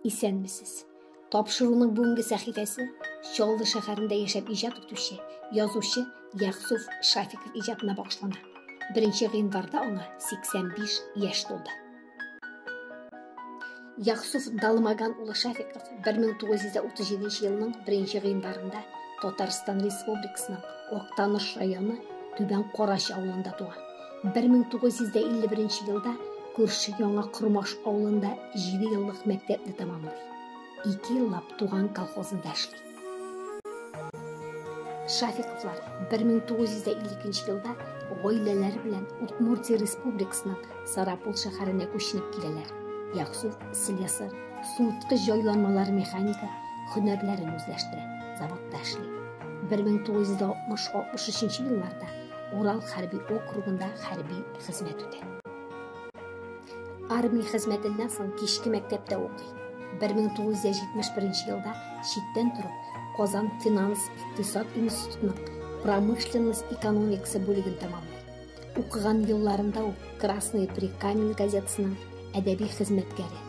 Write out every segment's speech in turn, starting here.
Исәнмесез. Тапшыруның бүгенге сәхифәсе Чаллы шәһәрендә яшәп иҗат итүче язучы Яхсуф Шафиков иҗатына багышлана. Беренче гыйнварда аңа 85 яшь тулды. Яхсуф Далмаган улы Шафиков 1937 елның 1 гыйнварында Татарстан Республикасының Актаныш районы Түбән Карач авылында туа. 1951 елда күрше Яңа Кормаш авылында 7 еллык мәктәпне тәмамлый. 2 еллап туган колхозында эшли. Шафиковлар 1952 елда гаиләләре белән Удмуртия республикасының Сарапул шәһәренә күченеп киләләр. Яксу слесарь, суыткыч җайланмалар механика һөнәрләрен үзләштерә, заводта эшли. 1960-63 елларда Урал хәрби округында хәрби хезмәт үтә. Армия хезмәтеннән соң кичке мәктәптә укый. 1971 елда читтән торып, Казан финанс-икътисад институтының промышленность экономикасы бүлеген тәмамлый. Укыган елларында ук Красный прикамень газетасының әдәби хезмәткәре,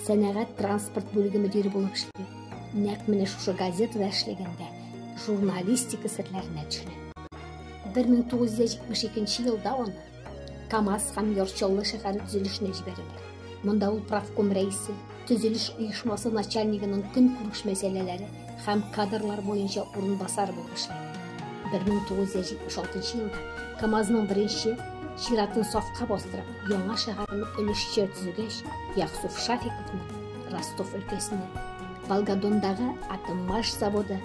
сәнәгать транспорт бүлеге мөдире булып эшли. Нәкъ менә шушы газетада эшләгәндә журналистика серләренә төшенә. 1972 елда аны Камаз һәм Йорчаллы шәһәре төзелешенә җибәрәләр. Монда ул правком рәисе, төзелеш оешмасы начальнигының көнкүреш мәсьәләләре һәм кадрлар буенча урынбасары булып эшләгән. 1976 елда КАМАЗның беренче чиратын сафка бастырып, яңа шәһәрне өлешчә төзегәч, Яхсуф Шафиковны Ростов өлкәсенә, Волгодондагы атоммаш заводы,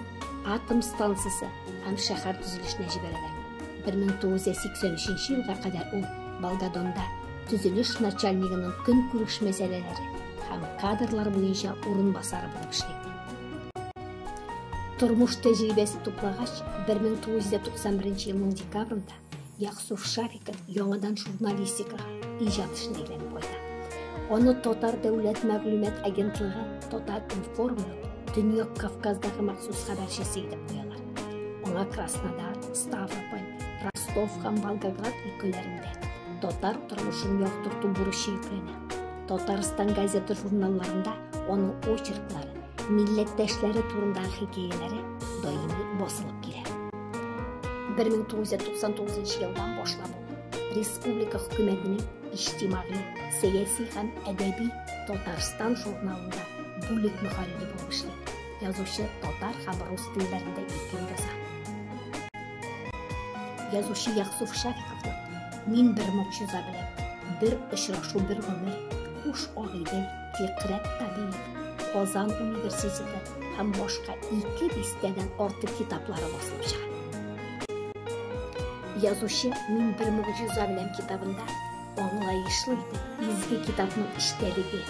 атом станциясе һәм шәһәр төзелешенә җибәрәләр. 1983 елга кадәр ул Болгадонда төзелеш начальнигының көнкүреш мәсьәләләре һәм кадрлар буенча урынбасары булып эшли. Тормыш тәҗрибәсе туплагач, 1991 елның декабрында Яксуф Шариков яңадан журналистикага иҗат эшенә әйләнеп кайта. Аны Татар дәүләт мәгълүмат агентлыгы Татар информның Төньяк Кавказдагы махсус хәбәрчесе итеп куялар. Аңа Краснодар, Ставрополь, Ростов һәм Волгоград өлкәләрендә татар тормышын яктырту бурычы йөкләнә. Татарстан газета-журналларында аның очерклары, милләттәшләре турындагы хикәяләре даими басылып килә. 1999 елдан башлап республика хөкүмәтенең иҗтимагый, сәяси һәм әдәби Татарстан журналында бүлек мөхәррире булып эшли. Язучы татар һәм рус телләрендә ике яза. Язучы Яхсуф Шафиковның Мин бер могҗиза белән, бер очрашу бер гомер, Куш агыйдел, Фикърәт Алиев, Казан университеты һәм башка ике дистәдән артык китаплары басылып чыга. Язучы Мин бер могҗиза белән китабында аңлаешлы итеп изге китапның эчтәлеге,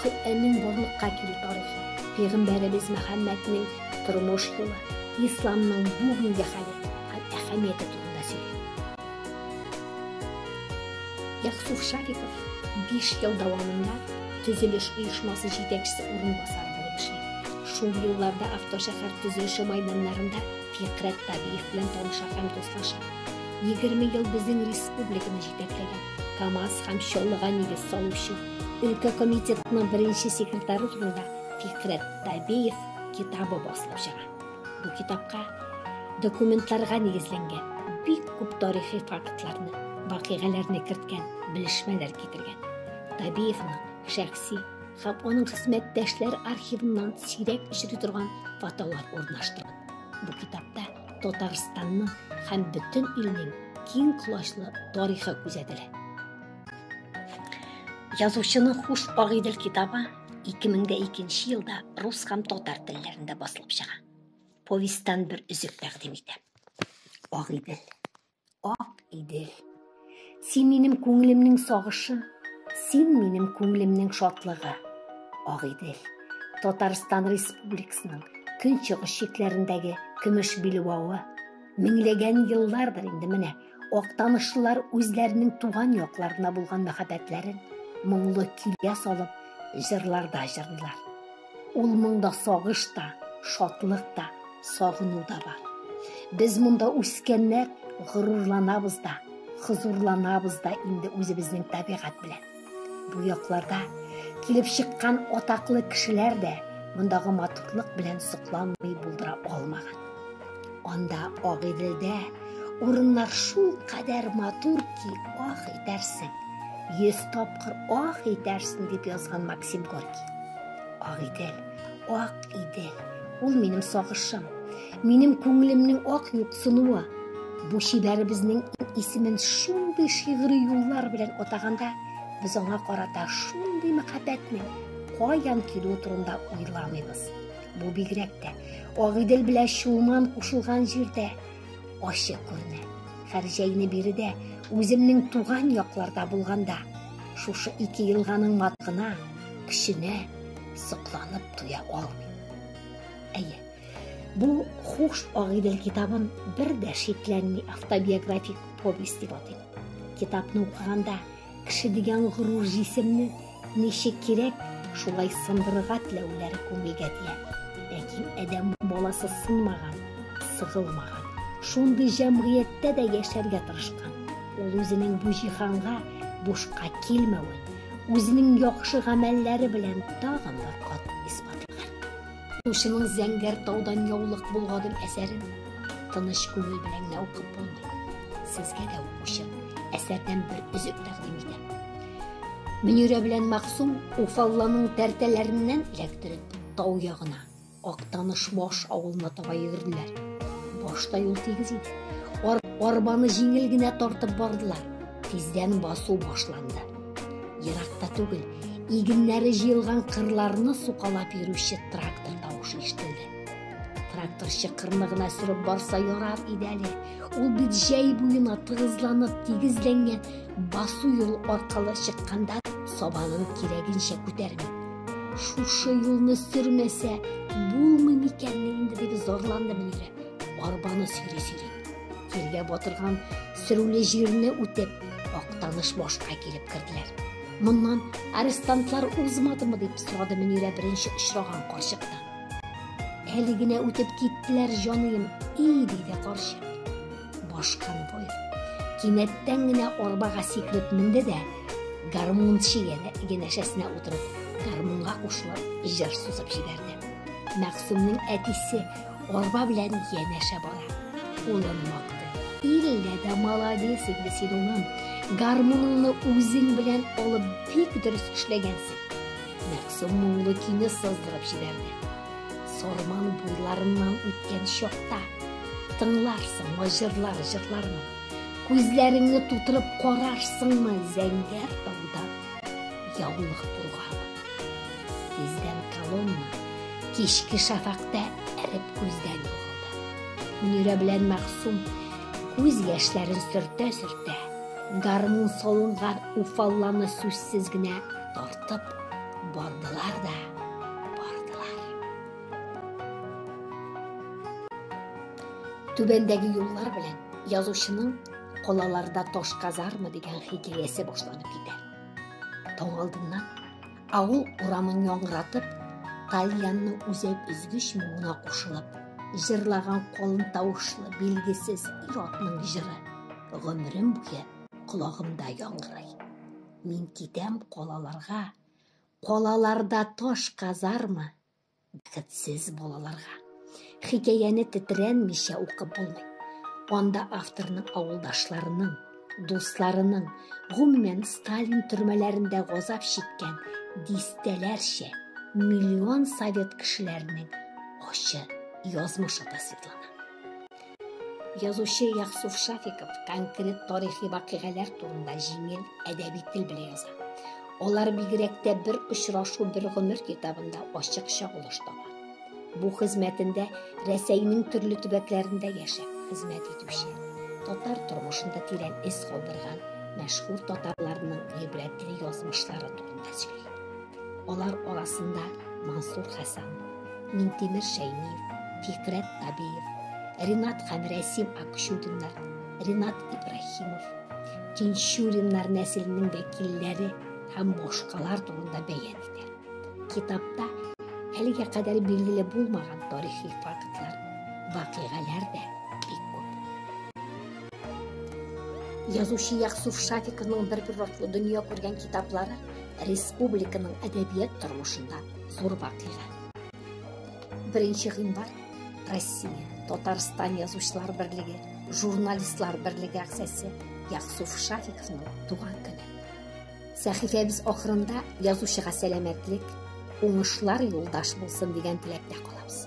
Коръәннең барлыкка килү тарихы, пәйгамбәребез Мөхәммәднең тормыш юлы, исламның бүгенге хәле һәм әһәмияте турында сөйли. Ясуф Шариков 5 ел дәвамында төзелеш оешмасы җитәкчесе урынбасары булып эшли. Шул елларда автошәһәр төзелеше майданнарында Фикърәт Табиев белән таныша һәм дуслаша. 20 ел безнең республиканы җитәкләгән, КАМАЗ һәм Чаллыга нигез салучы, өлкә комитетының беренче секретаре турында Фикърәт Табиев китабы басылып чыга. Бу китапка документларга нигезләнгән бик күп тарихи фактларны, вакыйгаларны керткән, белешмәләр китергән. Табиевның шәхси һәм аның хезмәттәшләр архивыннан сирәк очрый торган фотолар урнаштырган. Бу китапта Татарстанның һәм бөтен илнең киң колачлы тарихы күзәтелә. Язучының Хуш Агыйдел китабы 2002 елда рус һәм татар телләрендә басылып чыга. Повестьтан бер өзек тәкъдим итә. Агыйдел. Ак Идел. Син минем күңелемнең сагышы, син минем күңелемнең шатлыгы. Агыйдел. Татарстан Республикасының көнчыгыш чикләрендәге көмеш билбавы. Меңләгән еллардыр инде менә Актанышлылар үзләренең туган якларына булган мәхәббәтләрен моңлы көйгә салып, җырларда җырлыйлар. Ул моңда сагыш та, шатлык та, сагыну да бар. Без монда үскәннәр горурланабыз да, хозурланабыз да инде үзебезнең табигать белән. Бу якларда килеп чыккан атаклы кешеләр дә мондагы матурлык белән сокланмый булдыра алмаган. Анда Агыйделдә урыннар шул кадәр матур ки, ах итәрсең. Йөз тапкыр ах итәрсең дип язган Максим Горький. Агыйдел, ак идел, ул минем сагышым. Минем күңелемнең ак юксынуы бу чибәребезнең исемен шундый шигъри юллар белән атаганда, без аңа карата шундый мәхәббәтнең каян килүе турында уйламыйбыз. Бу бигрәк тә Агыйдел белән Чулман кушылган җирдә ачык күренә. Хәрҗәйне биредә үземнең туган якларда булганда, шушы ике елганың матгына, көченә сокланып туя алмыйм. Әйе, Бу хуш агыйдел китабын бер дә шикләнми автобиографик повесть дип атыйм. Китапны укыганда кеше дигән горур җисемне ничек кирәк, шулай сындырырга теләүләре күңелгә тия. Ләкин адәм баласы сынмаган, сыгылмаган, шундый җәмгыятьтә дә яшәргә тырышкан. Ул үзенең бу җиһанга бушка килмәвен, үзенең яхшы гамәлләре белән тагын бер кат исбатлаган. Укучының Зәңгәр таудан яулык болгадым әсәрен тыныч күңел белән генә укып булмый. Сезгә дә укучы әсәрдән бер өзек тәкъдим итәм. Мөнирә белән Максум Уфалланың тәртәләреннән эләктереп, тау ягына, Актаныш баш авылына таба йөгерделәр. Башта юл тигез иде. Ар арбаны җиңел генә тартып бардылар. Тиздән басу башланды. Еракта түгел, игеннәре җыелган кырларны сукалап йөрүче трактор тавышы ишетелде. Тракторчы кырны гына сөреп барса ярар иде әле. Ул бит җәй буена тыгызланып тигезләнгән басу юл аркылы чыкканда сабанын кирәгенчә күтәрми. Шушы юлны сөрмәсә, булмый микәнни инде дип зарланды Мөнирә, арбаны сөйри-сөйри. Җиргә батырган сөрүле җирне үтеп, Актаныш башка килеп керделәр. Моннан арестантлар узмадымы дип сорады Мөнирә беренче очраган карчыктан. Әле генә үтеп киттеләр, җаныем, и диде карчык. Башканы бой. Кинәттән генә арбага сикереп менде дә, гармунчы янәшәсенә утырып, гармунга кушылып, җыр сузып җибәрде. Мәгъсумның әтисе Арба белән янәшә бара. Улын мактый. Иллә дә молодец инде син, улым. Гармуныңны үзең белән алып бик дөрес эшләгәнсең. Мәгъсүм моңлы көйне сыздырып җибәрде. Сарман буйларыннан үткән чакта тыңларсың җырлар җырлармын. Күзләреңне тутырып карарсыңмы зәңгәр тауда? Яулык булган. Тиздән колонна кичке шафакта эреп күздән югалды. Мөнирә белән Мәгъсум күз яшьләрен сөртә-сөртә, гармун салынган уфалланы сүзсез генә тартып бардылар да бардылар. Түбәндәге юллар белән язучының Калаларда таш казарма дигән хикәясе башланып китә. Таң алдыннан авыл урамын яңгыратып, Тальянны үзәк өзгеч моңына кушылып, җырлаган калын тавышлы билгесез ир-атның җыры гомерем буе колагымда яңгырый. Мин китәм калаларга, калаларда таш казарма Бәхетсез балаларга хикәяне тетрәнмичә укып булмый. Анда авторның авылдашларының, дусларының, гомумән, Сталин төрмәләрендә газап чиккән дистәләрчә, миллион совет кешеләренең ачы язмышы тасвирлана. Язучы Яхсуф Шафиков конкрет тарихи вакыйгалар турында җиңел әдәби тел белән яза. Алар бигрәк тә бер очрашу бер гомер китабында ачык чагылыш таба. Бу хезмәтендә Рәсәйнең төрле төбәкләрендә яшәп хезмәт итүче, татар тормышында тирән эз калдырган мәшһүр татарларның гыйбрәтле язмышлары турында сөйли. Алар арасында Мансур Хәсән, Минтимер Шәймиев, Фикрәт Табиев, Ринат һәм Рәсим Акчудиннар, Ринат Ибраһимов, Тинчуриннар нәселенең вәкилләре һәм башкалар турында бәян итә. Китапта әлегә кадәр билгеле булмаган тарихи фактлар, вакыйгаләр дә бик күп. Язучы Яксуф Шафиковның бер-бер ваклы дөнья күргән китаплары Республиканың әдәбият тормышында зур вакыйга. Беренче гыйнвар Россия, Татарстан язучылар берлеге, журналистлар берлеге әгъзасы Яксуф Шафиковның туган көне. Сәхифәбез ахырында язучыга сәламәтлек, уңышлар юлдаш булсын дигән теләктә калабыз.